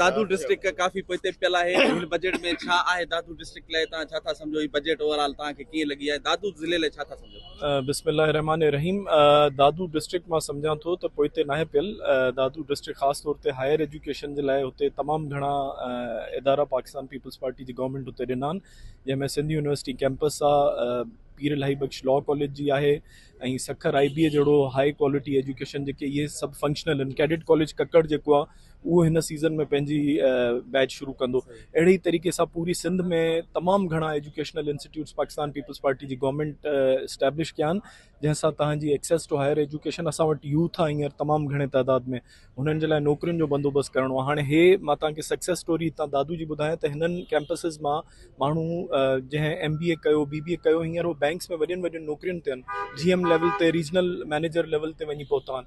Dadu district ڪافي پوئتي پيل آهي ته هن بجيٽ ۾ ڇا آهي دادو ڊسٽرڪٽ لاء توهان ڇا ٿا سمجهو هي بجيٽ اوور آل توهان کي ڪيئن لڳي آهي دادو ضلعي لاء ڇا ٿا سمجهو. بسم الله الرحمٰن الرحيم دادو ڊسٽرڪٽ مان سمجهان ٿو ته پوئتي ناهي پيل دادو ڊسٽرڪٽ خاص طور تي هائر ايجوڪيشن جي لاء هتي تمام گهڻا ادارا پاڪستان پيپلز پارٽي جي گورنمينٽ هتي ڏنا آهن جنهن ۾ سنڌ يونيورسٽي ڪيمپس آهي پير الاهي بخش لا ڪاليج جي آهي ۽ سکر آئي بي اي جهڙو هائي ڪوالٽي ايجوڪيشن جيڪي اهي سڀ فنڪشنل آهن ڪيڊٽ ڪاليج ڪڪڙ جيڪو آهي اهو هن سيزن ۾ پنهنجي بيچ شروع ڪندو اهڙي ئي طريقي سان پوري سنڌ ۾ تمام گهڻا educational institutes Pakistan Peoples Party جي گورنمينٽ اسٽيبلش ڪيا آهن جنهن سان تهان جي ايڪسيس ٽو هائر ايجوڪيشن اسان وٽ يوٿ آهي هينئر تمام گهڻي تعداد ۾ هنن جي لاء نوڪرين جو بندوبست ڪرڻو آهي هاڻي هي مان تهان کي سڪسيس اسٽوري هتان دادو جي ٻڌايان ته هنن ڪيمپسز مان ماڻهو جنهن ايم بي اي ڪيو بي بي اي ڪيو هينئر هو بئنڪس ۾ وڏين وڏين نوڪرين تي آهن جي ايم ليول تي ريجنل مئنيجر ليول تي وڃي پهتا آهن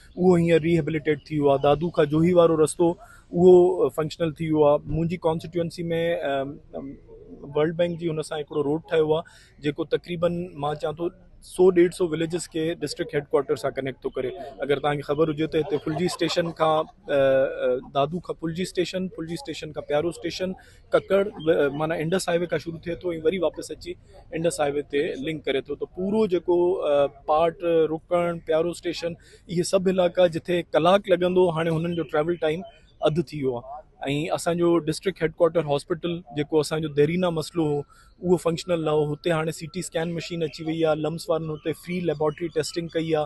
اهو هينئر ري هيبليٽيٽ ٿي ويو آهي دادو کان جوهي وارو رستو اهو فنڪشنل ٿي ويو آهي منهنجي ڪانسٽيٽوئنسي ۾ ورلڊ بئنڪ جي هن سان هڪڙو روڊ ٺهيو آهي جيڪو تقريبن مان چان ٿو سو ڏيڍ سو وليجز کي ڊسٽرڪٽ هيڊ ڪوارٽر سان ڪنيڪٽ ٿو ڪري اگر توهان کي خبر هجي ته هتي ڦلجي اسٽيشن کان دادو کان ڦلجي اسٽيشن ڦلجي اسٽيشن کان پيارو اسٽيشن ڪڪڙ معنيٰ انڊس هاء وي کان شروع ٿئي ٿو ۽ وري واپس اچي انڊس هاء وي تي لنڪ ڪري ٿو ته پورو جيڪو پارٽ رڪڻ پيارو اسٽيشن اهي سڀ علائقا جتي ڪلاڪ لڳندو هاڻي هنن جو ٽريول ٽائيم اڌ ٿي ويو آهي ۽ اسانجو ڊسٽرڪٽ هيڊڪوارٽر هاسپيٽل جيڪو اسانجو ديرينا مسئلو هو اهو فنڪشنل نه هو هتي هاڻي سي ٽي اسڪين مشين اچي وئي آهي لمس وارن هتي فري ليبارٽري ٽيسٽنگ ڪئي آهي